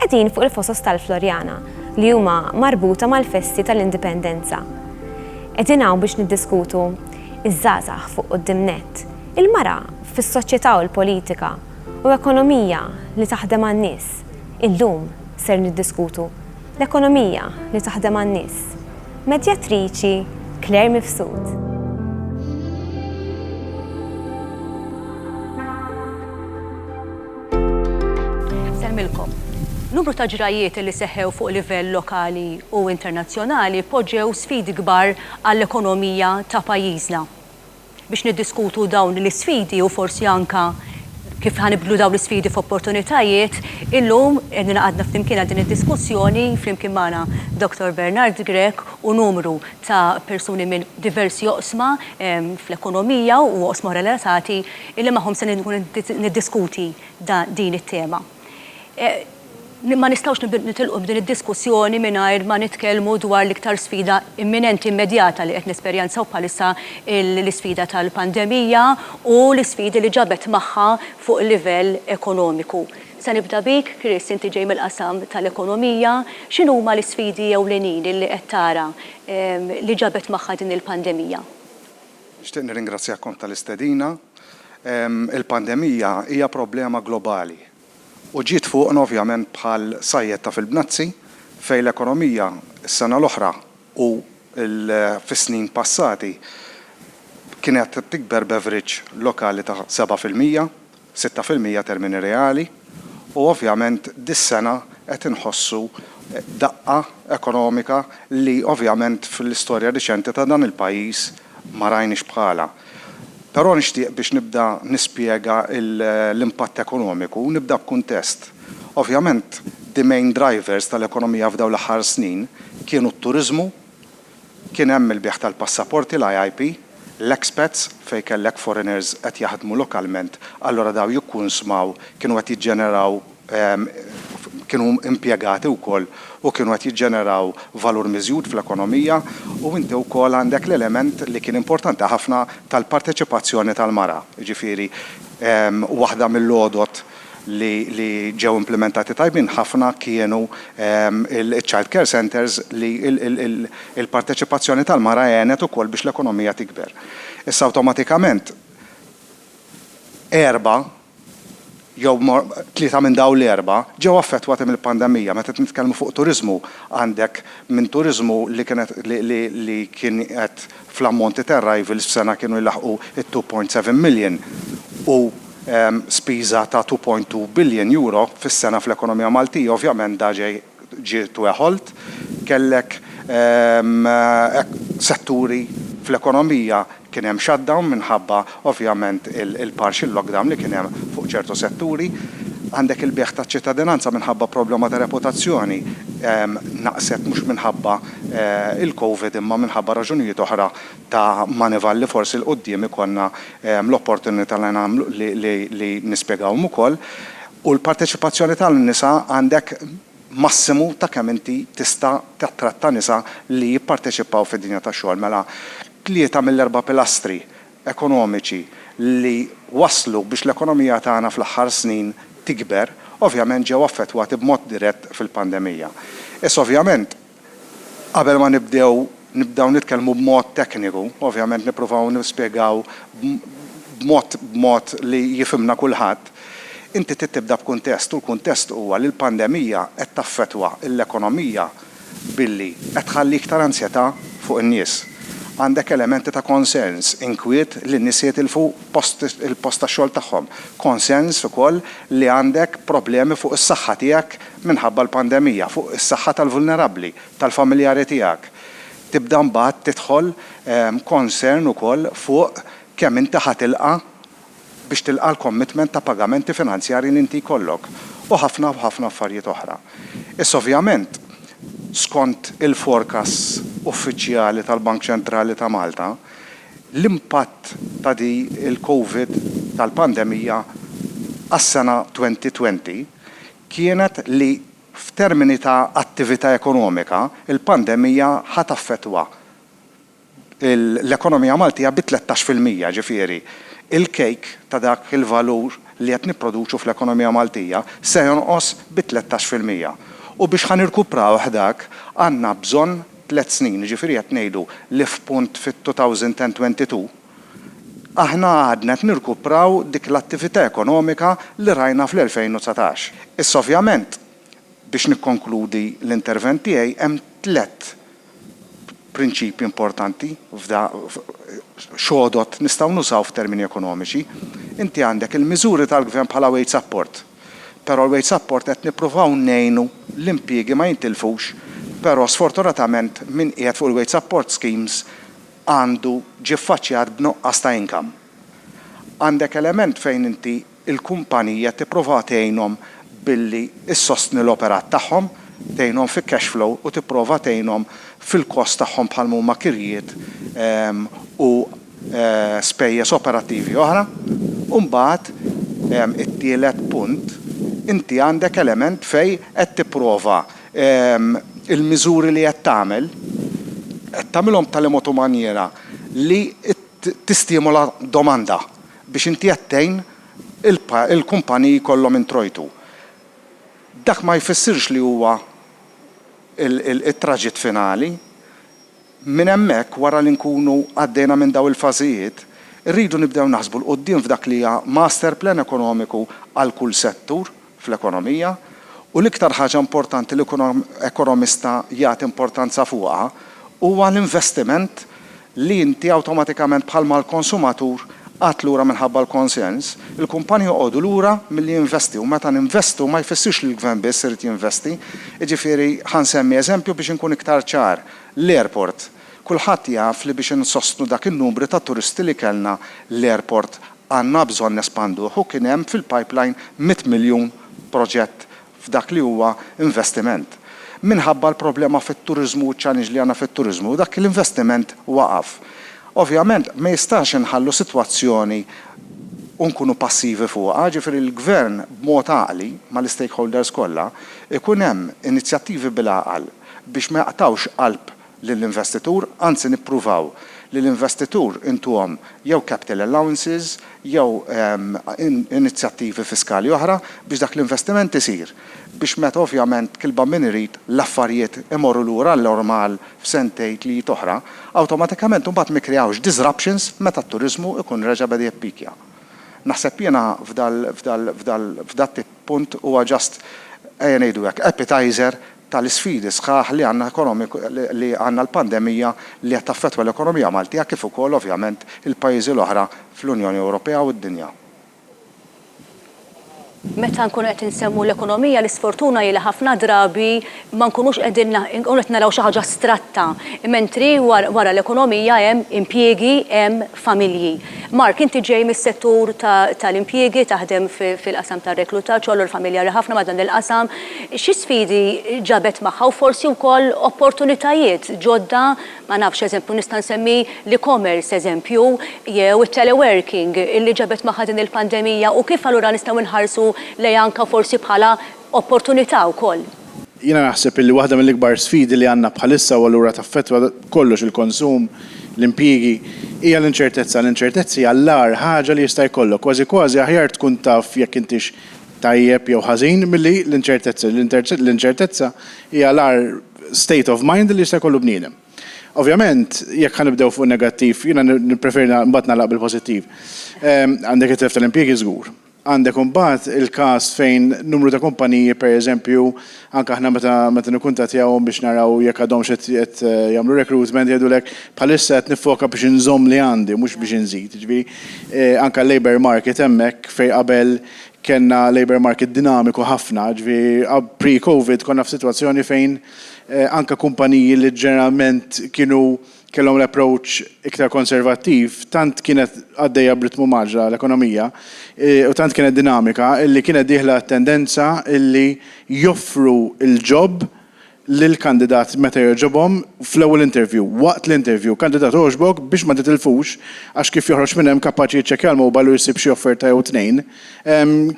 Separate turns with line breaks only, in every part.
Qegħdin fuq il-fosos tal-Floriana li huma marbuta mal-festi tal-Indipendenza. Qegħdin hawn biex niddiskutu ż-żgħażagħ fuq quddiem nett, il-mara fis-soċjetà u l-politika u ekonomija li taħdem għan-nies. Illum ser niddiskutu l-ekonomija li taħdem għan-nies. Medjatriċi Claire Mifsud.
Nsellmilkom. Numru ta' ġrajjiet li seħħew fuq livell lokali u internazzjonali poġġew sfidi kbar għall-ekonomija ta' pajjiżna. Biex niddiskutu dawn l-isfidi u forsi anke kif ħa nibdlu dawn l-isfidi f'opportunitajiet, illum qegħdin ingħaqadna flimkien għal din id-diskussjoni, flimkien magħna Dottor Bernard Grech u numru ta' persuni minn diversi oqsma fl-ekonomija u oqsma relatati illi magħhom se nkun qed niddiskuti din it-tema. Ma nistgħux nitilqu b'din id-diskussjoni mingħajr ma nitkellmu dwar l-iktar sfida imminenti immedjata li qed nesperjenzaw bħalissa, l-isfida tal-pandemija u l-isfidi li ġabet magħha fuq il-livell ekonomiku. Se nibda bik, Chris, inti ġej mill-qasam tal-ekonomija. X'inhuma l-isfidi ewlenin illi qed tara li ġabet magħha din il-pandemija? Nixtieq
nirringrazzjakom tal-istedina. Il-pandemija hija problema globali u ġiet fuqna ovvjament bħal sajjetta fil-bnazzi fejn l-ekonomija s-sena l-oħra u fis-snin passati kienet tikber b'average lokali ta' seba' fil-mija. sitta fil-mija termini reali, u ovvjament dis-sena qed inħossu daqqa ekonomika li ovvjament fl-istorja riċenti ta' dan il-pajjiż ma rajniex bħalha. Però nixtieq biex nibda nispjega l-impatt ekonomiku, nibda b'kuntest. Ovvjament the main drivers tal-ekonomija f'dawn l-aħħar snin kienu t-turiżmu, Kien hemm il-bigħ tal-passaporti, l-IIP, l-expats, fejn kellek foreigners qed jaħdmu lokalment, allura dawn jikkunsmaw, kienu qed jiġġeneraw, kienu impjegati wkoll u kienu qed jiġġeneraw valur miżjud fl-ekonomija u inti wkoll għandek l-element li kien importanti ħafna tal-parteċipazzjoni tal-mara, jiġifieri waħda mill-għodod li ġew implimentati tajbin ħafna kienu ċ-child care centres li l-parteċipazzjoni tal-mara għenet ukoll biex l-ekonomija tikber. Issa awtomatikament erba' jew tlieta minn dawn l-erba' ġew affettwati mill-pandemija. Meta qed nitkellmu fuq turiżmu għandek minn turiżmu li kien qed li kien qed fl-ammonti ta' arrivals f'sena kienu jlaħħqu t-2.7 million u spiża ta' €2.2 biljon fis-sena fl-ekonomija Maltija, ovvjament da ġej ġie tweħolt. Kellek setturi fl-ekonomija kien hemm shutdown minħabba ovvjament il-partial lockdown li kien hemm fuq ċertu setturi. Għandek il-bejgħ taċ-ċittadinanza minħabba problema ta' reputazzjoni naqset mhux minħabba il-Covid imma minħabba raġunijiet oħra ta' Moneyval li forsi 'l quddiem ikollna l-opportunità li nagħmlu li nispjegawhom ukoll. U l-parteċipazzjoni tan-nisa għandek massimu ta' kemm inti tista' tattratta nisa li jipparteċipaw fid-dinja tax-xogħol. Mela tlieta mill-erba' pilastri ekonomiċi li wasslu biex l-ekonomija tagħna fl-aħħar snin tikber ovvjament ġew affettwati b'mod dirett fil-pandemija. Issa ovvjament Qabel ma nibdew nibdew nitkellmu b'mod tekniku, ovvjament nippruvaw nispjegaw b'mod b'mod li jifhimna kulħadd, inti trid tibda b'kuntest u l-kuntest huwa li l-pandemija qed taffettwa l-ekonomija billi qed tħalli iktar anzjetà fuq in-nies. Għandek elementi ta' konsens, inkwiet li n-nies se jitilfu post il-post tax-xogħol tagħhom, konsens ukoll li għandek problemi fuq is-saħħa tiegħek, minħabba l-pandemija, fuq is-saħħa tal-vulnerabbli, tal-familjari tiegħek. Tibda mbagħad tidħol concern ukoll fuq kemm inti ħa tilqa' biex tilqa' l-commitment ta' pagamenti finanzjarji li inti jkollok, u ħafna u ħafna affarijiet oħra. Issa ovvjament, skont il-forecasts uffiċjali tal-Bank Ċentrali ta' Malta, l-impatt ta' di l-Covid tal-pandemija għas-sena 2020, kienet li f'termini ta' attività ekonomika, il-pandemija ħa taffettwa l-ekonomija Maltija bi tlettax fil-mija, jiġifieri l-kejk ta' dak il-valur li qed nipproduċu fl-ekonomija Maltija se jonqos bi tlettax fil-mija. U biex ħa nirkuprawh dak, għandna bżonn tliet snin, jiġifieri qed ngħidu li f'punt fit-2022, Aħna għadna qed nirkupraw dik l-attività ekonomika li rajna fl-2019. Issa ovvjament, biex nikkonkludi l-intervent tiegħi, hemm tliet prinċipji importanti f'da, x'għodod nistgħu nużaw f'termini ekonomiċi. Inti għandek il-miżuri tal-gvern bħala wage support. Però l-wage support qed nippruvaw ngħinu l-impjiegi ma jintilfux, però sfortunatament min qiegħed fuq il-wage support schemes għandu ġie ffaċċjat b'nuqqas ta' income. Għandek element fejn inti l-kumpanija tipprova tgħinhom billi ssostni l-operat tagħhom, tgħinhom fi cash flow u tipprova tgħinhom fil-cost tagħhom bħalma huma kirjiet u spejjeż operattivi oħra. U mbagħad it-tielet punt, inti għandek element fejn qed tipprova il-miżuri li qed tagħmel, qed tagħmilhom b'tali mod u manjiera li tistimola domanda biex inti qed tgħin il-kumpaniji jkollhom introjtu. Dak ma jfissirx li huwa it-traġitt finali. Minn hemmhekk, wara li nkunu għaddejna minn dawn il-fażijiet, irridu nibdew naħsbu 'l quddiem f'dak li hija master plan ekonomiku għal kull settur fl-ekonomija, u l-iktar ħaġa importanti li kull ekonomista jagħti importanza fuqha huwa l-investiment li inti awtomatikament bħal mal-konsumatur Qatt lura minħabba l-konsens, il-kumpanji joqogħdu lura milli jinvesti u meta ninvestu ma jfissirx li l-Gvern biss irid jinvesti. Jiġifieri, ħa nsemmi eżempju biex inkun iktar ċar, l-airport. Kulħadd jaf li biex insostnu dak in-numri ta' turisti li kellna, l-airport għandna bżonn nespanduh u kien hemm fil-pipeline mitt miljun proġett f'dak li huwa investiment. Minħabba l-problema fit-turiżmu u ċ-challenge li għandna fit-turiżmu, dak l-investiment waqaf. Ovvjament, ma jistax inħallu sitwazzjoni u nkunu passivi fuqha, jiġifieri l-Gvern b'mod għaqli, mal-istakeholders kollha, ikun hemm inizjattivi bil-għaqal biex ma jaqtgħux qalb lill-investitur, anzi nippruvaw li l-investitur intuhom jew capital allowances jew inizjattivi fiskali oħra biex dak l-investiment isir, biex meta ovvjament kilba min irid l-affarijiet imorru lura għan-normal f'sentejn tliet oħra, awtomatikament imbagħad ma jikkreawx disruptions meta t-turiżmu jkun reġa' beda jippikja. Naħseb jiena f'dal, f'dal, f'dal, f'dat-tip punt huwa just, ejja ngħidu hekk, appetizer tal-isfidi sħaħ li għandna ekonomik li għandna l-pandemija li qed taffettwa l-ekonomija Maltija kif ukoll ovvjament il-pajjiżi l-oħra fl-Unjoni Ewropea u d-dinja.
Meta nkunu qed insemmu l-ekonomija l-isfortuna hi li ħafna drabi ma nkunux qegħdin nkunu qed naraw xi ħaġa astratta, mentri wara l-ekonomija hemm impjiegi, hemm familji. Mark, inti ġej mis-settur tal-impjiegi, taħdem fil-qasam tar-reklutaġġ, għolur familjari ħafna ma' dan il-qasam. Xi sfidi ġabet magħha u forsi wkoll opportunitajiet ġodda, ma nafx, eżempju nista' nsemmi l-e-commerce eżempju, jew it-teleworking li ġabet magħha din il-pandemija u kif allura nistgħu nħarsu lejha anke forsi bħala opportunità wkoll. Jiena naħseb
illi waħda mill-ikbar sfidi li għandna bħalissa u allura taffettwa kollox il-konsum, l-impjiegi, hija l-inċertezza. L-inċertezza hija l-agħar ħaġa li jista' jkollok. Kważi kważi aħjar tkun taf jekk intix tajjeb jew ħażin milli l-inċertezza. L-inċertezza hija l-agħar state of mind li jista' jkollu bniedem. Ovvjament, jekk ħa nibdew fuq in-negattiv, jiena nippreferi mbagħad nagħlaq bil-pożittiv. Għandek it-telf tal-impjiegi żgur. Għandek imbagħad il-każ fejn numru ta' kumpaniji, pereżempju, anke aħna meta meta nikkuntattjahom biex naraw jekk għadhomx qed qed jagħmlu recruitment jgħidulek bħalissa qed niffoka biex inżomm li għandi mhux biex inżid. Jiġifieri anke l-labour market hemmhekk fejn qabel kellna labour market dinamiku ħafna, jiġifieri pre-COVID konna f'sitwazzjoni fejn anke kumpaniji li ġeneralment kienu kellhom l-approach iktar konservattiv, tant kienet għaddejja b'ritmu maġla l-ekonomija u tant kienet dinamika illi kienet dieħla t-tendenza illi joffru l-job lill-kandidat meta jogħġobhom fl-ewwel interview, waqt l-interview, kandidat għoġbok biex ma titilfux għax kif joħroġ minn hemm kapaċi jiċċekkja l-mobile u jsib xi offerta jew tnejn,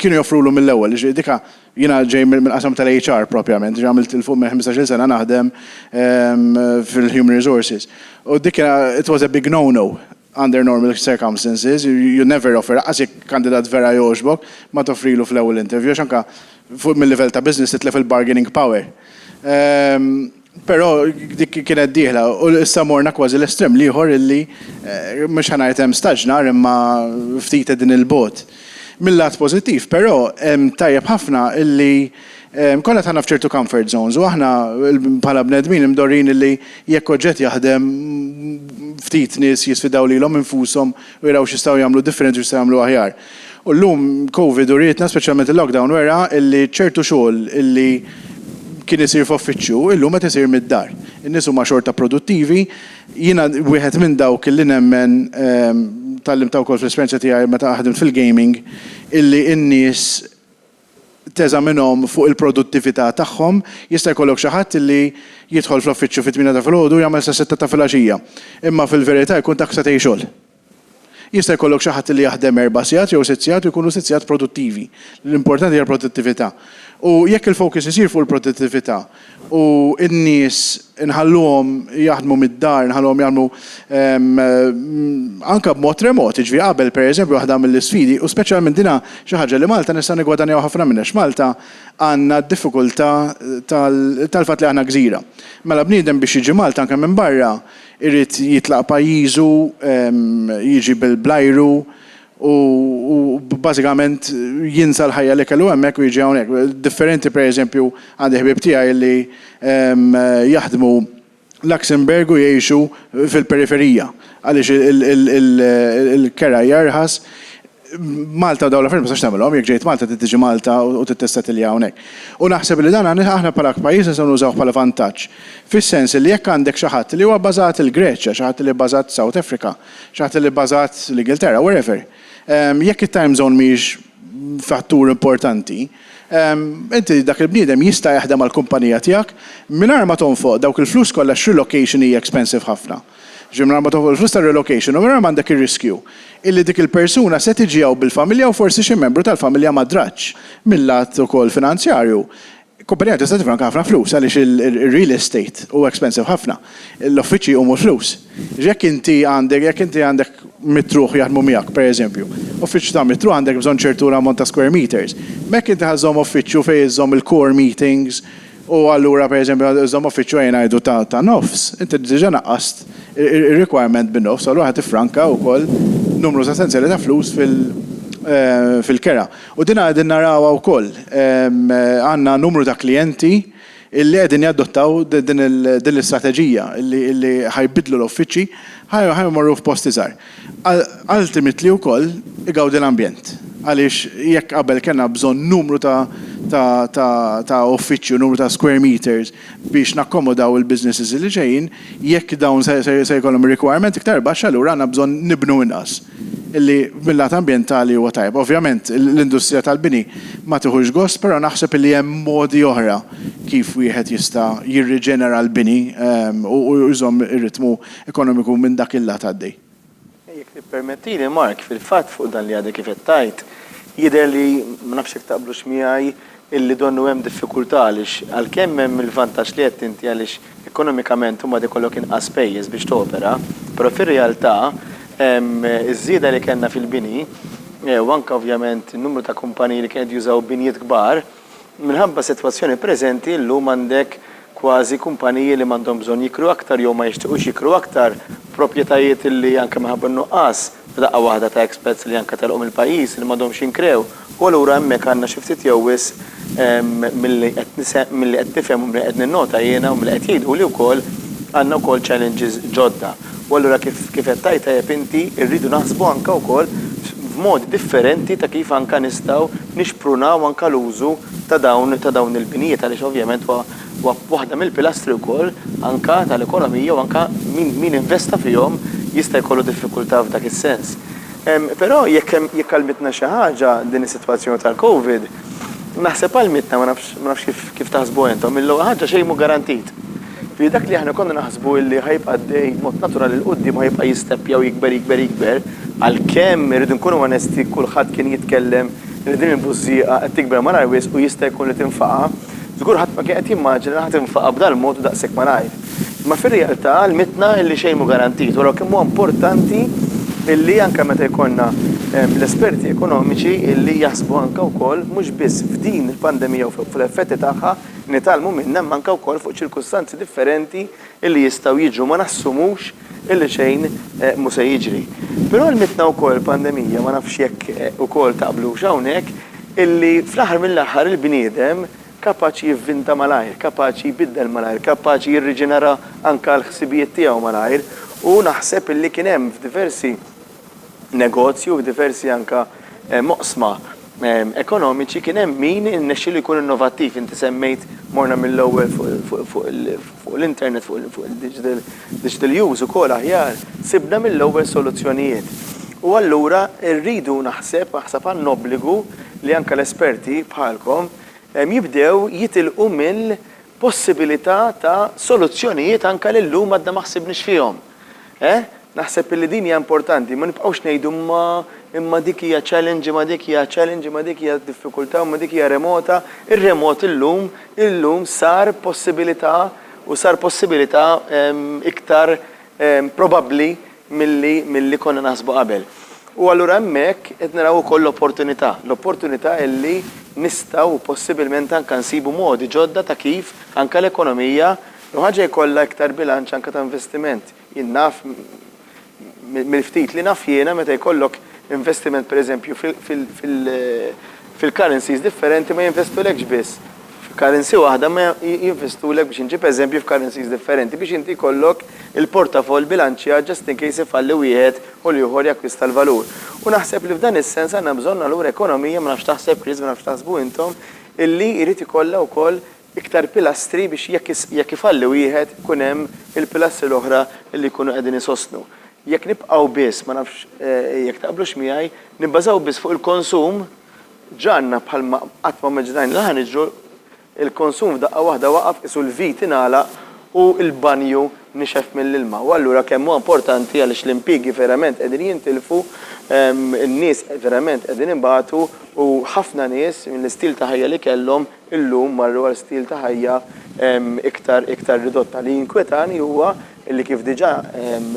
kienu joffrulu mill-ewwel, jiġifieri dik Jiena ġej mill-qasam tal-HR propjament, ġifieri għamilt 'il fuq minn ħmistax-il sena naħdem fil-human resources. U dik kien, it was a big no no under normal circumstances, you never offer, anqas jekk kandidat vera jogħġbok, ma toffrilu fl-ewwel interview għax anke fuq mil-livell ta' business titlef il-bargaining power. Però dik kienet dieħla u issa morna kważi l-estrem l-ieħor illi mhux ħa ngħid hemm staġnar imma ftit qegħdin 'il bogħod. Mil-lat pożittiv però tajjeb ħafna illi konna dħalna f'ċertu comfort zones u aħna bħala bnedmin imdorrijin illi jekk oġġett jaħdem ftit nies jisfidaw lilhom infushom u jaraw x'jistgħu jagħmlu differenti u x'jistgħu jagħmlu aħjar. U llum Covid urietna, speċjalment il-lockdown wera, illi ċertu xogħol illi kien isir f'uffiċċju, illum qed isir mid-dar. In-nies huma xorta produttivi. Jiena wieħed minn dawk illi nemmen, tgħallimtha wkoll fl-esperjenza tiegħi meta ħdimt fil-gaming, illi n-nies teżaminhom fuq il-produttività tagħhom. Jista' jkollok xi ħadd illi jidħol fl-uffiċċju fit-tmiena ta' filgħodu u jagħmel sas-sitta ta' filgħaxija, imma fil-verità jkun dak setgħin xogħol. Jista' jkollok xi ħadd li jaħdem erba' sigħat jew sitt sigħat u jkunu sitt sigħat produttivi. L-importanti hija l-produttività. U jekk il-focus isir fuq il-produttività u n-nies inħalluhom jaħdmu mid-dar, nħalluhom jagħmlu anke b'mod remot, jiġifieri qabel pereżempju waħda mill-isfidi, u speċjalment din hija xi ħaġa li Malta nistgħu niggwadanjaw ħafna minnha għax Malta għandna d-diffikultà tal-fatt li aħna gżira. Mela bniedem biex jiġi Malta anke minn barra, Irid jitlaq pajjiżu, jiġi bl-ajru u bażikament jinsa l-ħajja li kellu hemmhekk u jiġi hawnhekk. Differenti pereżempju għandi ħbieb tiegħi li jaħdmu Luxembourg u jgħixu fil-periferija għaliex il-keraj arħas. Malta u dawn l-affarijiet ma tistax tagħmilhom, jekk ġejt Malta trid tiġi Malta u trid tissettilja hawnhekk. U naħseb li dan aħna bħala pajjiż nistgħu nużawh bħala vantaġġ, fis-sens li jekk għandek xi ħadd li huwa bbażat il-Greċja, xi ħadd li bbażat South Africa, xi ħadd li bbażat l-Ingilterra, wherever, jekk it-time zone mhijiex fattur importanti, inti dak il-bniedem jista' jaħdem għall-kumpanija tiegħek mingħajr ma tonfoq dawk il-flus kollha x-relocation hija expensive ħafna. Jiġifieri mingħajr ma toħloq il-flus tar-relocation u mingħajr ma għandek ir-riskju illi dik il-persuna se tiġi hawn bil-familja u forsi xi membru tal-familja ma drax. Mil-lat ukoll finanzjarju, kumpanija tista' tifranka ħafna flus għaliex ir-real estate huwa expensive ħafna. L-uffiċċji jqumu l-flus. Jiġifieri jekk inti għandek jekk inti għandek mitruħ jaħdmu miegħek, per eżempju, uffiċċju ta' mitruħ għandek bżonn ċertu ammont ta' square meters. M'hekk inti ħa żżomm uffiċċju fejn iżżomm il-core meetings, U allura pereżempju meta iżżomm uffiċċju ejja ngħidu ta' nofs, inti diġà naqqast ir-requirement bin-nofs, allura ħa tiffranka wkoll numru sostanzjali ta' flus fil-kera. U din qegħdin narawha wkoll. Għandna numru ta' klijenti li qegħdin jadottaw din l-istrateġija li ħa jbiddlu l-uffiċċji, ħa jmorru f'post iżgħar. Ultimately wkoll igawdi l-ambjent għaliex jekk qabel kellna bżonn numru ta' uffiċċji u numru ta' square meters biex nakkomodaw il-businesses li ġejjin, jekk dawn se jkollhom requirement iktar baxx allura għandna bżonn nibnu inqas. Illi mil-lat ambjentali huwa tajjeb. Ovvjament l-industrija tal-bini ma tiħux gost però naħseb illi hemm modi oħra kif wieħed jista' jirriġenera l-bini u jżomm ir-ritmu ekonomiku minn dak il-lat għaddej. Jekk
tippermettili, Mark, fil-fatt fuq dan li għadek kif qed tgħid, jidher li, ma nafx jekk taqblux miegħi, illi donnu hemm diffikultà għaliex għalkemm hemm il-vantaġġ li għedt inti għaliex ekonomikament imbagħad ikollok inqas spejjeż biex topera, però fir-realtà ż-żieda li kellna fil-bini u anke ovvjament in-numru ta' kumpaniji li kienu qed jużaw binjiet kbar, Minħabba s-sitwazzjoni preżenti, illum għandek kważi kumpaniji li m'għandhom bżonn jikru aktar jew ma jixtiqux jikru aktar proprjetajiet li anke minħabba n-nuqqas f'daqqa waħda ta' expats li anke telqu mill-pajjiż li m'għadhomx jinkrew u allura hemmhekk għandna xi ftit jew wisq milli qed milli qed nifhem u milli qed ninnota jiena u milli qed jgħiduli wkoll għandna wkoll challenges ġodda. U allura kif kif qed tgħid tajjeb inti, irridu naħsbu anke wkoll f'modi differenti ta' kif anke nistgħu nixprunaw anke l-użu ta' dawn ta' dawn il-binijiet għaliex ovvjament huwa huwa waħda mill-pilastri wkoll anke tal-ekonomija u anke min min investa fihom jista' jkollu diffikultà f'dak is-sens. Però jekk hemm jekk għallmitna xi ħaġa din is-sitwazzjoni tal-COVID, Naħseb għal mietna, ma nafx, ma nafx kif, kif taħsbuha intom, il-ewwel ħaġa xejn mhu garantit. Ġifieri dak li aħna konna naħsbu li ħa jibqa' għaddej b'mod naturali 'l quddiem ħa jibqa' jisteppja u jikber, jikber, jikber, għalkemm irridu nkunu onesti kulħadd kien jitkellem li din il-bużżieqa qed tikber malar wisq u jista' jkun li tinfaqa', Żgur ħadd ma kien qed jimmaġina li ħa tinfaqa' b'dal-mod u daqshekk malajr. Imma fir-realtà għallmitna illi xejn mhu garantit u għalhekk kemm huwa importanti illi anke meta jkollna l-esperti ekonomiċi illi jaħsbu anke wkoll mhux biss f'din il-pandemija u fuq l-effetti tagħha, nitgħallmu minnha imma anke wkoll fuq ċirkustanzi differenti illi jistgħu jiġu ma nassumux illi xejn mhu se jiġri. Però għallmitna wkoll il-pandemija, ma nafx jekk ukoll taqblux hawnhekk, illi fl-aħħar mill-aħħar il-bniedem kapaċi jivvinta malajr, kapaċi jbiddel malajr, kapaċi jirriġenera anke l-ħsibijiet tiegħu malajr u naħseb illi kien hemm f'diversi negozju u f'diversi anke oqsma ekonomiċi kien hemm min irnexxielu jkun innovattiv. Inti semmejt morna mill-ewwel fuq l-internet, fuq il-digital use ukoll aħjar, sibna mill-ewwel soluzzjonijiet. U allura rridu naħseb, naħseb għandna obbligu li anke l-esperti bħalkom jibdew jitilqu possibilità ta' soluzzjonijiet anke li llum għadna ma ħsibniex fihom. Eh? Naħseb illi din hija importanti, ma nibqgħux ngħidu imma, imma dik hija challenge, imma dik hija challenge, imma dik hija diffikultà, imma dik hija remota. Ir-remot illum, illum sar possibilità u sar possibilità iktar probabbli milli milli konna naħsbu qabel. U allura hemmhekk qed naraw ukoll l-opportunità, l-opportunità li nistgħu u possibilment anke nsibu modi ġodda ta' kif anke l-ekonomija jew ħaġa jkollha iktar bilanċ anke ta' investiment. Jien naf mill-ftit li naf jiena meta jkollok investiment pereżempju fil-currencies differenti ma jinvestulekx biss f'currency waħda imma jinvestulek biex inġib eżempji f'currencies differenti biex inti jkollok il-portafoll bilanċjat just in case ifalli wieħed u l-ieħor jakkwista l-valur. U naħseb li f'dan is-sens għandna bżonn allura ekonomija, ma nafx x'taħseb Chris, ma nafx x'taħsbu intom, illi jrid ikollha wkoll iktar pilastri biex jekk jekk ifalli wieħed ikun hemm il-pilastri l-oħra illi jkunu qegħdin isostnu. Jekk nibqgħu biss, ma nafx jekk taqblux miegħi, nibbażaw biss fuq il-konsum, Ġarna bħalma qatt ma mmaġinajna li ħa niġru, il-konsum f'daqqa waħda waqaf, qisu l-vit ingħalaq u l-banju nixef mill-ilma. U allura kemm huwa importanti għaliex l-impjiegi verament qegħdin jintilfu, in-nies verament qegħdin ibatu u ħafna nies mill-istil ta' ħajja li kellhom illum marru għal stil ta' ħajja iktar iktar ridotta. Li jinkwetani huwa Illi kif diġà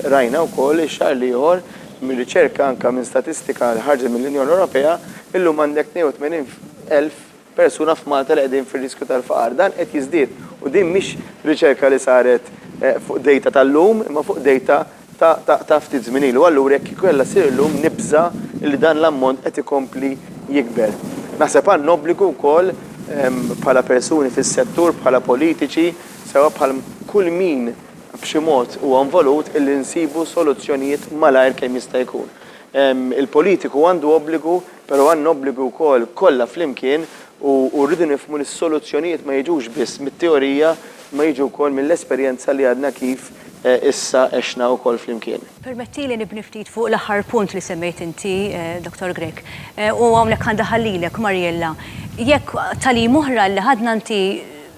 rajna wkoll ix-xahar l-ieħor minn riċerka anke minn statistika li ħarġet mill-Unjoni Ewropea, illum għandek 82 elf persuna f'Malta li qegħdin fir-riskju tal-faqar. Dan qed jiżdied u din mhix riċerka li saret fuq dejta tal-lum imma fuq dejta ta' ftit żmien ilu. Allura jekk kieku kellha ssir illum nibża' li dan l-ammont qed ikompli jikber. Naħseb għandna obbligu wkoll bħala persuni fis-settur, bħala politiċi, sewwa bħal kull min b'xi mod huwa involut, illi nsibu soluzzjonijiet malajr kemm jista' jkun. Il-politiku għandu obbligu, però għandna obbligi wkoll kollha flimkien u rridu nifhmu li s-soluzzjonijiet ma jiġux biss mit-teorija imma jiġu wkoll mill-esperjenza li għadna kif issa għexna wkoll flimkien. Permettili nibni
ftit fuq l-aħħar punt li semmejt inti, Dottor Grech, u hawnhekk għan daħal lilek, Mariella. Jekk tagħlim oħra li ħadna inti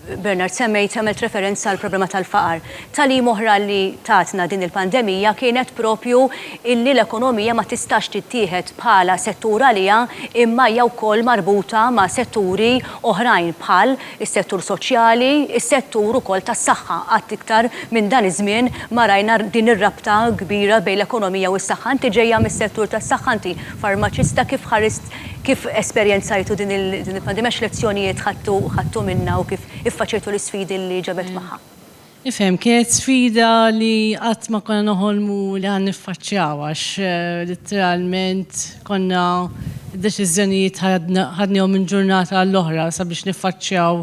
Bernard, semmejt, għamilt referenza għall-problema tal-faqar. Tagħlim oħra li tatna din il-pandemija kienet proprju illi l-ekonomija ma tistax tittieħed bħala settur għaliha imma hija wkoll marbuta ma' setturi oħrajn bħal is-settur soċjali, is-settur ukoll tas-saħħa. Qatt iktar minn dan iż-żmien ma rajna din ir-rabta kbira bejn l-ekonomija u s-saħħa. Inti ġejja mis-settur tas-saħħa, inti farmaċista, kif ħarist Kif esperjenzajtu din il-pandemija, x'lezzjonijiet ħadtu minnha u kif iffaċjajtu l-isfidi li ġabet magħha? Nifhem, kienet
sfida li qatt ma konna noħolmu li ħa niffaċċjaw għax litteralment konna d-deċiżjonijiet ħadnihom minn ġurnata għall-oħra sabiex niffaċċjaw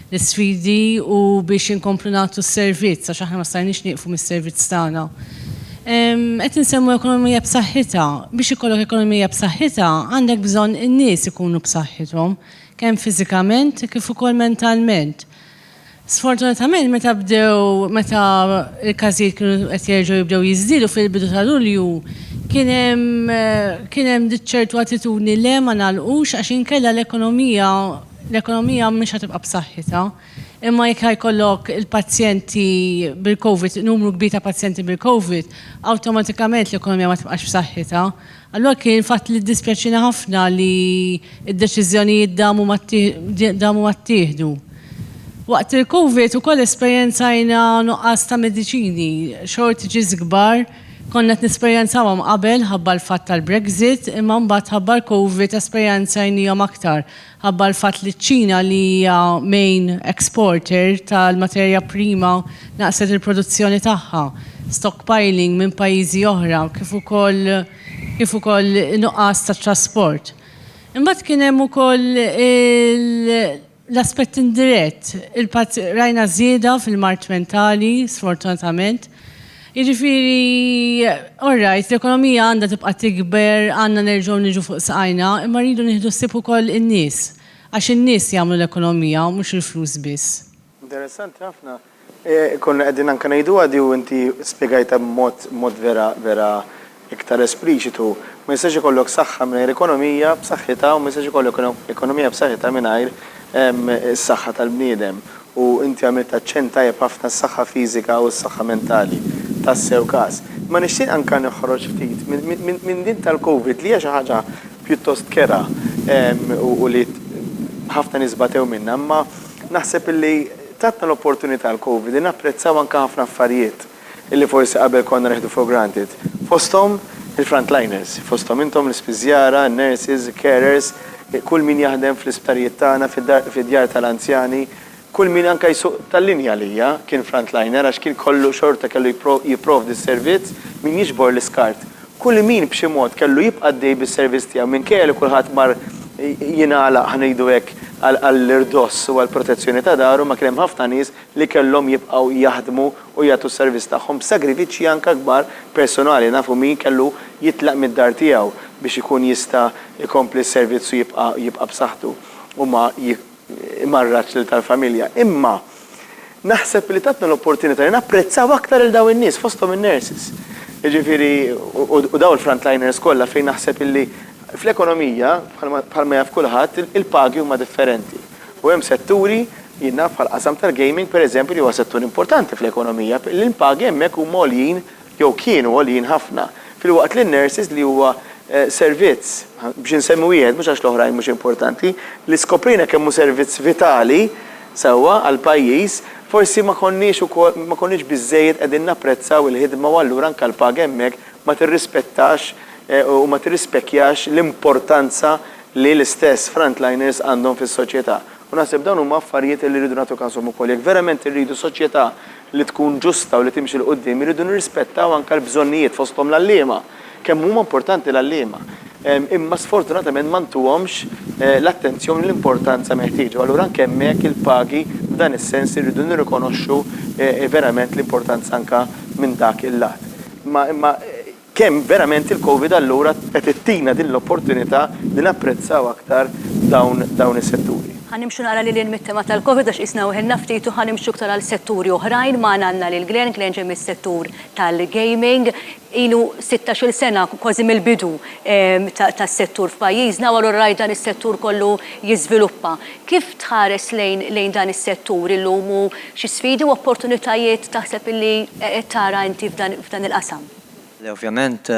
l-isfidi u biex inkomplu nagħtu s-servizz, għax aħna ma stajniex nieqfu mis-servizz tagħna. Qed insemmu ekonomija b'saħħitha. Biex ikollok ekonomija b'saħħitha, għandek bżonn in-nies ikunu b'saħħithom, kemm fiżikament kif ukoll mentalment. Sfortunatament meta bdew meta l-każijiet kienu qed jerġgħu jibdew jiżdiedu fil-bidu ta' Lulju, kien hemm kien hemm ċertu attitudni le ma nagħlqux għax inkella l-ekonomija L-ekonomija mhix ħa tibqa' b'saħħitha, imma jekk ħa jkollok il-pazjenti bil-COVID, numru kbir ta' pazjenti bil-COVID, awtomatikament l-ekonomija ma tibqax b'saħħitha. Allura kien fatt li ddispjaċina ħafna li d-deċiżjonijiet damu ma damu ma ttieħdu. Waqt il-COVID ukoll esperjenzajna nuqqas ta' mediċini, shortages kbar, konna qed nesperjenzawhom qabel ħabba l-fatt tal-Brexit, imma mbagħad ħabba l-COVID esperjenzajnihom aktar. Minħabba l-fatt li ċ-Ċina li hija main exporter tal-materja prima naqqset il-produzzjoni tagħha, stockpiling minn pajjiżi oħra kif ukoll kif ukoll nuqqas ta' trasport. Imbagħad kien hemm ukoll l-aspett indirett, il-pazj rajna żieda fil-mard mentali sfortunatament, Jiġifieri, all right, l-ekonomija għandha tibqa' tikber, għandna nerġgħu niġu fuq saqajna, imma rridu nieħdu ħsieb ukoll in-nies, għax in-nies jagħmlu l-ekonomija u mhux il-flus biss. Interessanti
ħafna. Konna qegħdin anke ngħiduha di u inti spjegajtha b'mod, b'mod vera, vera Iktar espliċitu, ma jistax ikollok saħħa mingħajr ekonomija b'saħħitha u ma jistax ikollok ekonomija b'saħħitha mingħajr is-saħħa tal-bniedem. U inti għamilt aċċenn tajjeb ħafna s-saħħa fiżika u s-saħħa mentali. Tassew każ. Imma nixtieq anke noħroġ ftit minn din tal-Covid li hija xi ħaġa pjuttost kerha u li ħafna nies batew minnha, imma naħseb li tatna l-opportunità l-Covid li napprezzaw anke ħafna affarijiet. illi forsi qabel konna nieħdu for granted, fosthom il-frontliners, fosthom intom l-ispiżjara, in-nurses, il-carers, kull min jaħdem fl-isptarijiet tagħna, fid-djar tal-anzjani, kull min anke jsuq tal-linja għalija kien frontliner għax kien kollu xorta kellu jipprovdi s-servizz, min jiġbor l-iskart. Kull min b'xi mod kellu jibqa' għaddej bis-servizz tiegħu minkejja li kulħadd mar jingħalaq, ħa ngħidu hekk, għall-irdoss u għall-protezzjoni ta' daru, ma kien hemm ħafna nies li kellhom jibqgħu jaħdmu, u jagħtu s-servizz tagħhom b'sagrifiċċji anke kbar personali, nafu min kellu jitlaq mid-dar tiegħu biex ikun jista' jkompli s-servizz u jibqa' jibqa' b'saħħtu u ma jmarradx lil tal-familja. Imma naħseb li tatna l-opportunità li napprezzaw aktar lil dawn in-nies, fosthom in-nurses, jiġifieri u dawn il-frontliners kollha fejn naħseb illi fl-ekonomija bħalma bħalma jaf kulħadd il-pagi huma differenti. U hemm setturi, jien naf bħall-qasam tal-gaming pereżempju li huwa settur importanti fl-ekonomija, li l-pagi hemmhekk huma għoljin jew kienu għoljin ħafna, filwaqt li n-nurses li huwa servizz, biex insemmi wieħed mhux għax l-oħrajn mhux importanti, li skoprejna kemm hu servizz vitali, sewwa, għall-pajjiż, forsi ma konniex ukoll, ma konniex biżżejjed qegħdin napprezzaw il-ħidma u allura anke l-paga hemmhekk ma tirrispettax u ma tirrispekjax l-importanza li l-istess frontliners għandhom fis-soċjetà. U naħseb dawn huma affarijiet li rridu nagħtu kashom ukoll. Jekk verament irridu soċjetà li tkun ġusta u li timxi 'l quddiem, irridu nirrispettaw anke l-bżonnijiet fosthom l-għalliema. Kemm huma importanti l-għalliema. Imma sfortunatament ma ntuhomx l-attenzjoni u l-importanza meħtieġa. U allura anke hemmhekk il-pagi f'dan is-sens irridu nirrikonoxxu verament l-importanza anke minn dak il-lat. Imma imma Kemm verament il-Covid allura qed ittina din l-opportunità li napprezzaw aktar dawn is-setturi. Ħa nimxu naqra lil hinn
mit-tema tal-Covid għax qisna weħilna ftit u ħa nimxu iktar għal setturi oħrajn. Magħna għandna lil Glenn, Glenn ġej mis-settur tal-gaming. Ilu sittax-il sena kważi mill-bidu tas-settur f'pajjiżna u allura rajt dan is-settur kollu jiżviluppa. Kif tħares lejn dan is-settur illum u xi sfidi u opportunitajiet taħseb li qed tara inti f'dan il-qasam? Le ovvjament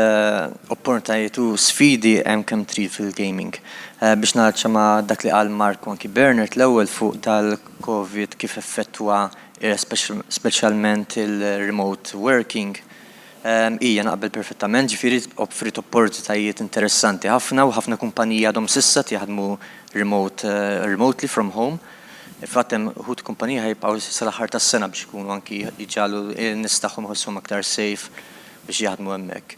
oppornitajiet u sfidi hemm kemm trid fil-gaming. Biex naċċa ma' dak li qal Mark u anki Bernard l-ewwel fuq dal-Covid kif effettwa speċjalment il-remote working, ija naqbel perfettament, ġifieri offriet oppornitajiet interessanti ħafna u ħafna kumpaniji għadhom s'issa qed jaħdmu remote, remotely from home. Fl-għatem, uħud kumpaniji ħa jibqgħu sal-aħħar tas-sena biex ikunu anki jġagħlu lin-nies tagħhom iħossuhom aktar safe biex jaħdmu hemmhekk.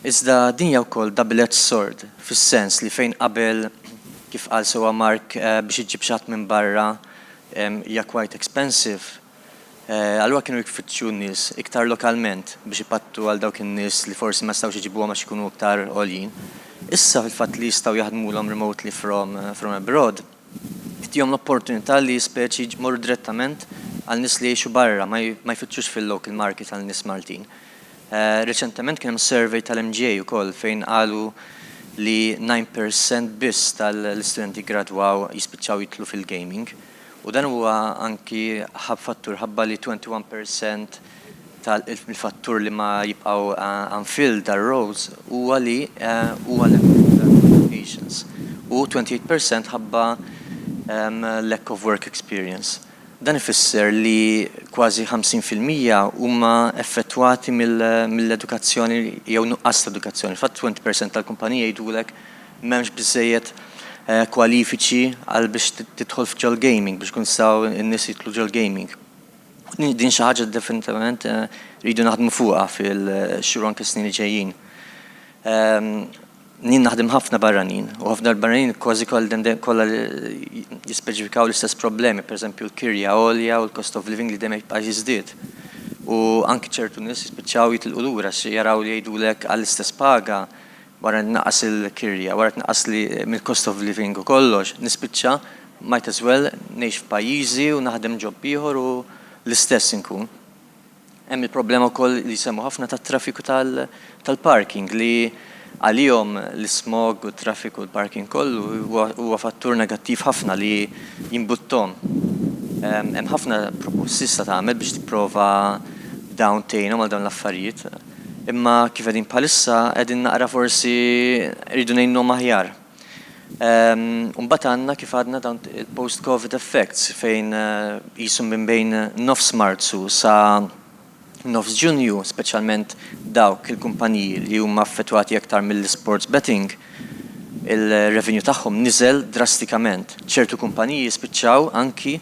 Iżda din hija wkoll double-edged sword, fis-sens li fejn qabel, kif qal sewwa Mark, biex iġġib xi ħadd minn barra hija quite expensive, allura kienu jfittxu n-nies iktar lokalment biex ipattu għal dawk in-nies li forsi ma jistgħux iġibuhom għax ikunu iktar għoljin. Issa, fil-fatt li jistgħu jaħdmulhom remotely from abroad, Tihom l-opportunità li speċi jmorru direttament għal nies li jgħixu barra, ma jfittxux fil-local market għal nies Maltin. Reċentement kien hemm survey tal-MGA ukoll fejn qalu li nine per cent biss tal-istudenti ggradwaw jispiċċaw jidħlu fil-gaming. U dan huwa anki fattur ħabba li twenty one per cent ta' l-fattur li ma jibqgħu unfilled tar-roles huwa li huwa l-impatt ta' qualifications u 28 per cent ħabba lack of work experience. Dan ifisser li kważi 50 fil-mija huma effettwati mill-edukazzjoni jew nuqqas ta' edukazzjoni. F'għad 20 per cent tal-kumpaniji jgħidulek m'hemmx biżżejjed kwalifiċi għal biex tidħol f'ġol-gaming, biex ikun jistgħu n-nies jidħlu ġol-gaming. Din xi ħaġa definitivament eh, rridu naħdmu fuqha fil-xhur anke snin li ġejjin. Ehm, Nien naħdem ħafna barranin, u ħafna l-barranin kważi kollha jispeċifikaw l-istess problemi, pereżempju l-kirja għolja u l-cost of living li dejjem jibqa' jiżdied. U anki ċertu nies jispiċċaw jitilqu lura xi jaraw li jgħidulek għall-istess paga wara li tnaqqas il-kirja, wara tnaqqas li mill-cost of living u kollox, nispiċċa might as well ngħix f'pajjiżi u naħdem job ieħor u l-istess inkun. Hemm il-problema wkoll li jsemmu ħafna tat-traffiku tal-parking li għalihom l-ismog u t-traffiku l-parking kollu huwa fattur negattiv ħafna li jimbuttahom. Hemm ħafna proposti x'se tagħmel biex tipprova b'dawn tgħinhom għal dawn l-affarijiet? Imma kif qegħdin bħalissa qegħdin naqra forsi rridu ngħinuhom aħjar. U mbagħad għandna kif għadna dawn il-post Covid effects fejn qisu minn bejn nofs Marzu sa nofs Ġunju, speċjalment dawk il-kumpaniji li huma affettwati aktar mill-isports betting, ir-revenue tagħhom niżel drastikament. Ċertu kumpaniji spiċċaw anki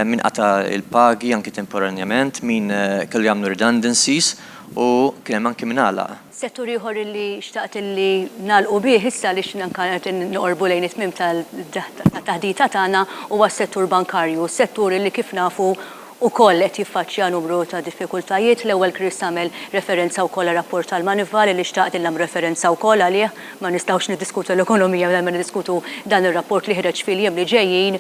min qata' il-pagi anki temporanjament, min kellu jagħmlu redundancies u kien hemm anki min għalaq. Settur ieħor li
xtaqt li nagħlqu bih issa għaliex anki qed noqorbu lejn it-tmiem tat-taħdita tagħna huwa s-settur bankarju, settur li kif nafu ukoll qed jiffaċċja numru ta' diffikultajiet. L-ewwel Chris għamel referenza wkoll għar-rapport tal-Moneyval li xtaqt li nagħmel referenza wkoll għalih. Ma nistgħux niddiskutu l-ekonomija mingħajr ma niddiskutu dan ir-rapport li ħreġ fil-jiem li ġejjin.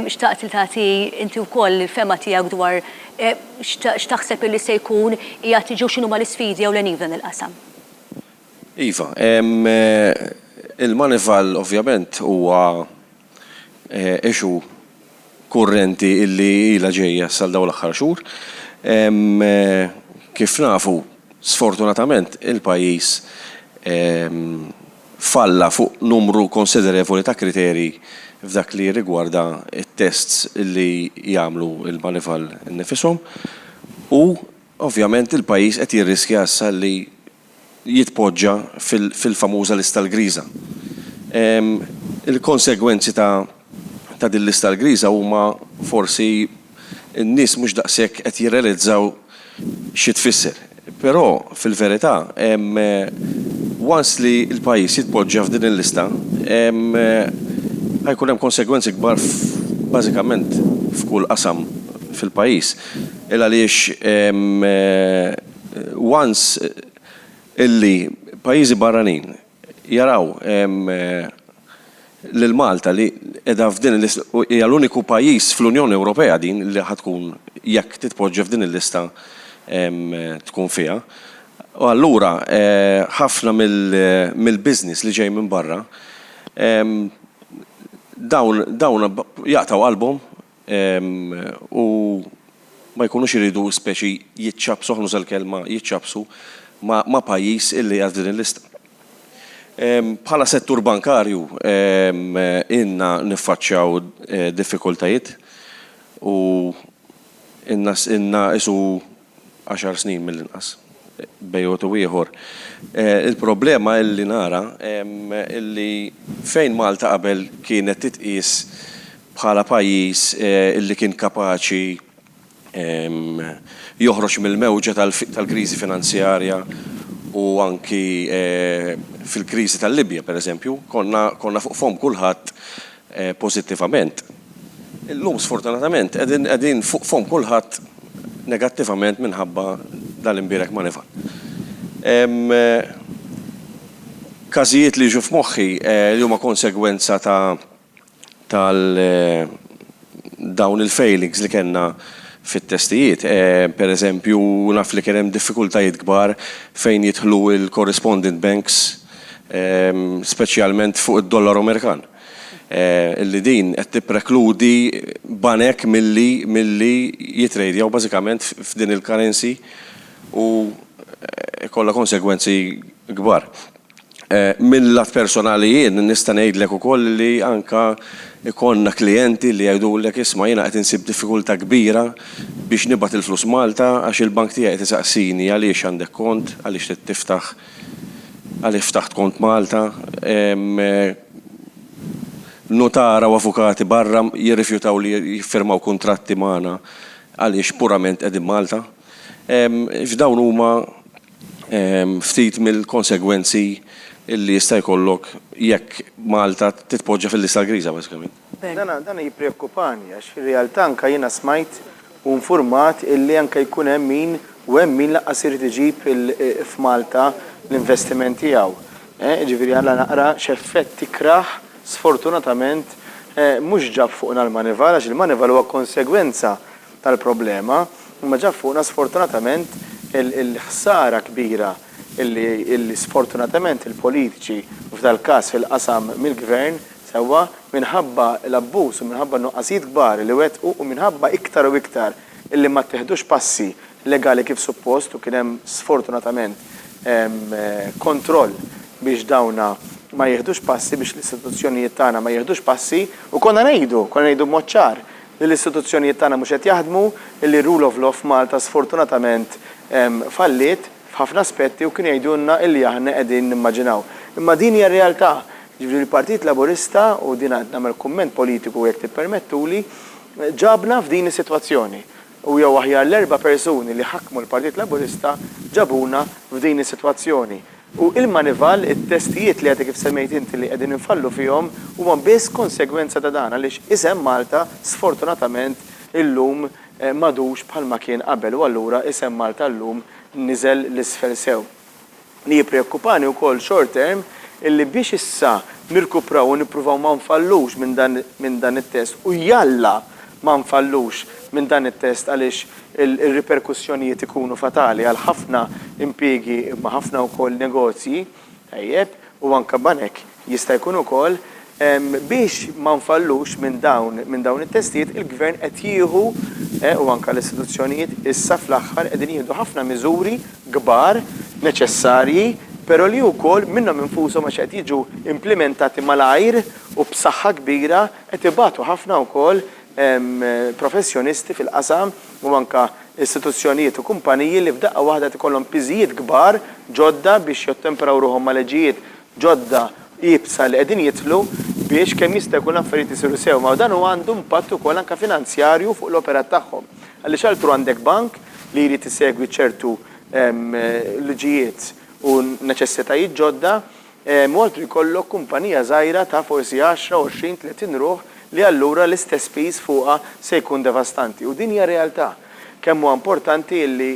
Xtaqt li tagħti inti wkoll il-fehma tiegħek dwar x'taħseb illi se jkun qiegħed jiġi u x'inhuma l-isfidi ewlenin f'dan il-qasam.
Iva, il-Moneyval ovvjament huwa issue kurrenti illi ilha ġejja sal dawn l-aħħar xhur. Kif nafu, sfortunatament il-pajjiż falla fuq numru konsiderevoli ta' kriterji f'dak li jirrigwarda t-tests illi jagħmlu l-manival innifishom u ovvjament il-pajjiż qed jirriskja issa li jitpoġġa fil-famuża lista l-griża. Il-konsegwenzi ta' din lista l-griża huma forsi n-nies mhux daqshekk qed jirrealizzaw xi tfisser. Però fil-verità once li l-pajjiż jitpoġġa f'din il-lista ħa jkun hemm konsegwenzi kbar bażikament f'kull qasam fil-pajjiż il għaliex once illi pajjiżi barranin jaraw lil Malta li qiegħda f'din il-lista u hija l-uniku pajjiż fl-Unjoni Ewropea din li ħa tkun jekk titpoġġa f'din il-lista tkun fiha. U allura ħafna mill-business li ġej minn barra dawn dawn jaqtgħu qalbhom u ma jkunux iridu speċi jiċċappsu, ħa nuża l-kelma, jiċċappsu ma' pajjiż illi qiegħed f'din il-lista. Bħala settur bankarju ilna niffaċċjaw diffikultajiet u ilna qisu għaxar snin mill-inqas, bejgħ u ieħor. Il-problema li nara li fejn Malta qabel kienet titqies bħala pajjiż li kien kapaċi joħroġ mill-mewġa tal-kriżi finanzjarja u anki fil-kriżi tal-Libja, pereżempju, konna fuq fomm kulħadd pożittivament, illum sfortunatament qegħdin qegħdin fuq fomm kulħadd negattivament minħabba dan l-imbierek ma nifgħal. Hemm każijiet li jiġu f'moħħi li huma konsegwenza ta' tal dawn il-failings li kellna fit-testijiet. Per eżempju naf li kien hemm diffikultajiet kbar fejn jidħlu l-correspondent banks, speċjalment fuq id-dollaru Amerikan, illi din qed tipprekludi banek milli milli jitrejdjaw bażikament f'din il-currency u jkollha konsegwenzi kbar. Mil-lat personali jien nista' ngħidlek ukoll li anke jkollna klijenti li jgħidulek isma' jiena qed insib diffikultà kbira biex nibgħat il-flus Malta għax il-bank tiegħi qed isaqsini għaliex għandek kont, għaliex trid tiftaħ Għaliex ftaħt kont Malta? Hemm nutara u avukati barra jirrifjutaw li jiffirmaw kuntratti magħna għaliex purament qegħdin Malta? F'dawn huma ftit mill-konsegwenzi li jista' jkollok jekk Malta titpoġġa fil-lista l-griża bażikament. Dana dana
jippreokkupani għax fir-realtà anke jiena smajt u nfurmat illi anke jkun hemm min u hemm min lanqas irid iġib il f'Malta l-investiment tiegħu. Eh jiġifieri ara naqra x'effett tikrah sfortunatament eh mhux ġab fuqna l-Manival għax il-Manival huwa konsegwenza tal-problema imma ġab fuqna sfortunatament il il-ħsara kbira illi illi sfortunatament il-politiċi f'dal-każ fil-qasam mill-Gvern Sewwa, minħabba l-abbuż u minħabba n-nuqqasijiet kbar li wettqu u minħabba iktar u iktar illi ma tteħdux passi legali kif suppost u kien hemm sfortunatament kontroll biex dawna ma jieħdux passi, biex l-istituzzjonijiet tagħna ma jieħdux passi u konna ngħidu, konna ngħidu b'mod ċar li l-istituzzjonijiet tagħna mhux qed jaħdmu, illi r-rule of law f'Malta sfortunatament falliet f'ħafna aspetti u kienu jgħidulna illi aħna qegħdin nimmaġinaw. Imma din hija r-realtà. Jiġifieri l-Partit Laburista, u din għad nagħmel kumment politiku jekk tippermettuli, ġabna f'din is-sitwazzjoni. U jew aħjar l-erba' persuni li ħakmu l-Partit Laburista ġabuna f'din is-sitwazzjoni. U il-manival, it-testijiet li għadek kif semmejt inti li qegħdin infallu fihom huma biss konsegwenza ta' dan għaliex isem Malta sfortunatament illum m'għadux bħalma kien qabel u allura isem Malta llum niżel 'l isfel sew. li jippreokkupani wkoll short term illi biex issa nirkupraw u nippruvaw ma nfallux minn dan minn dan it-test u jalla ma nfallux minn dan it-test għaliex ir-riperkussjonijiet ikunu fatali għal ħafna impjiegi imma ħafna wkoll negozji, tajjeb, u anke banek, Jista' jkun ukoll, biex ma nfallux minn dawn minn dawn it-testijiet, il-Gvern qed jieħu, u anke l-istituzzjonijiet, issa fl-aħħar qegħdin jieħdu ħafna miżuri kbar, neċessarji, però li wkoll minnhom infushom għax qed jiġu implimentati malajr u b'saħħa kbira qed ibatu ħafna wkoll professjonisti fil-qasam u anke istituzzjonijiet u kumpaniji li f'daqqa waħda qed ikollhom piżijiet kbar ġodda biex jottempraw ruħhom ma' leġijiet ġodda iebsa li qegħdin jidħlu biex kemm jista' jkun l-affarijiet isiru sew. Ma dan għandu impatt ukoll anke finanzjarju fuq l-operat tagħhom. Għaliex altru għandek bank li jrid isegwi ċertu liġijiet u neċessitajiet ġodda u altru jkollok kumpanija żgħira ta' forsi għaxra, għoxrin, tletin ruħ li allura l-istess piż fuqha se jkun devastanti. U din hija realtà. Kemm huwa importanti li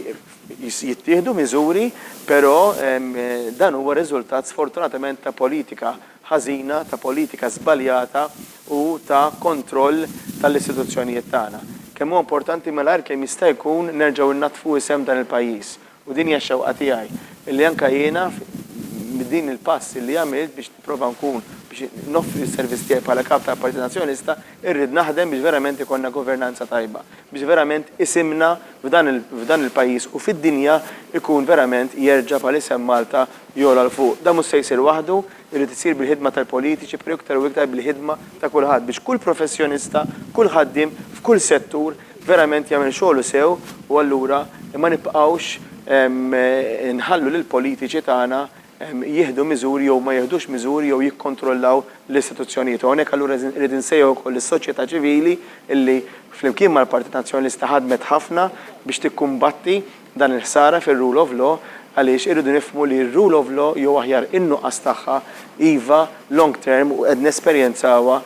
jittieħdu miżuri, però dan huwa riżultat sfortunatament ta' politika ħażina, ta' politika żbaljata u ta' kontroll tal-istituzzjonijiet tagħna. Kemm huwa importanti malajr kemm jista' jkun nerġgħu nnaddfu isem dan il-pajjiż u din hija x-xewqa tiegħi li anke jiena b'din il-pass li għamilt biex nipprova nkun biex noffri s-servizz tiegħi bħala Kap tal-Partit Nazzjonalista Irrid naħdem biex verament ikollna governanza tajba, biex verament isimna f'dan il-pajjiż u fid-dinja jkun verament jerġa' bħal isem Malta jogħla 'l fuq. Dan mhux se jsir waħdu, irid isir bil-ħidma tal-politiċi però iktar u iktar bil-ħidma ta' kulħadd biex kull professjonista, kull ħaddiem f'kull settur verament jagħmel xogħlu sew u allura ma nibqgħux inħallu lill-politiċi tagħna jieħdu miżuri jew ma jieħdux miżuri jew jikkontrollaw l-istituzzjonijiet. U hawnhekk allura irrid insejjaħ ukoll lis-soċjetà ċivili li flimkien mal-Partit Nazzjonalista ħadmet ħafna biex tikkumbatti dan il-ħsara fir-rule of law għaliex irridu nifhmu li r-rule of law jew aħjar in-nuqqas tagħha iva long term u qed nesperjenzawha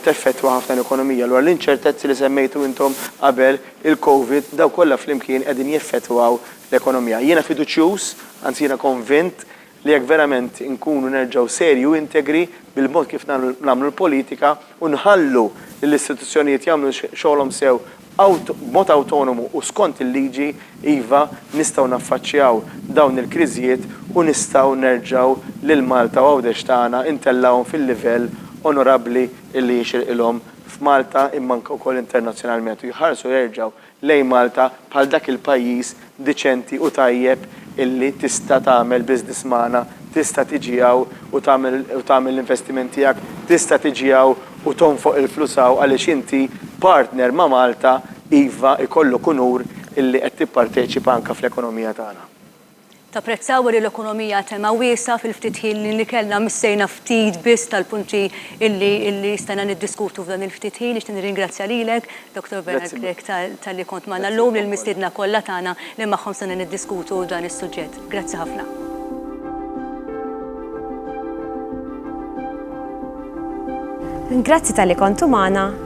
teffettwa ħafna l-ekonomija. Allura l-inċertezzi li semmejtu intom qabel, il-Covid, dawn kollha flimkien qegħdin jeffettwaw l-ekonomija. Jiena fiduċjuż, anzi jiena konvint, li jekk verament inkunu nerġgħu serji u integri bil-mod kif nagħmlu l-politika u nħallu lill-istituzzjonijiet jagħmlu xogħolhom sew b'mod awtonomu u skont il-liġi, iva, nistgħu naffaċċjaw dawn il-kriżijiet u nistgħu nerġgħu lil Malta u Għawdex tagħna ntellgħuhom fil-livell onorabbli li jixirqilhom f'Malta imma anke wkoll internazzjonalment u jħarsu jerġgħu lejn Malta bħal dak il-pajjiż diċenti u tajjeb illi tista' tagħmel business magħna, tista' tiġi hawn u tagħmel u tagħmel l-investiment tiegħek, tista' tiġi hawn u tonfoq il-flus hawn għaliex inti partner ma' Malta, iva, ikollok unur illi qed tipparteċipa anke fl-ekonomija tagħna. Tapprezzaw
li l-ekonomija tema wiesgħa fil-ftit ħin li kellna missejna ftit biss tal-punti li stajna niddiskutu f'dan il-ftit ħin. Nixtieq nirringrazzja lilek, Dottor Bernard Grech, talli kont magħna llum, lill-mistiedna kollha tagħna li magħhom stajna niddiskutu dan is-suġġett. Grazzi ħafna.
Grazzi talli kontu magħna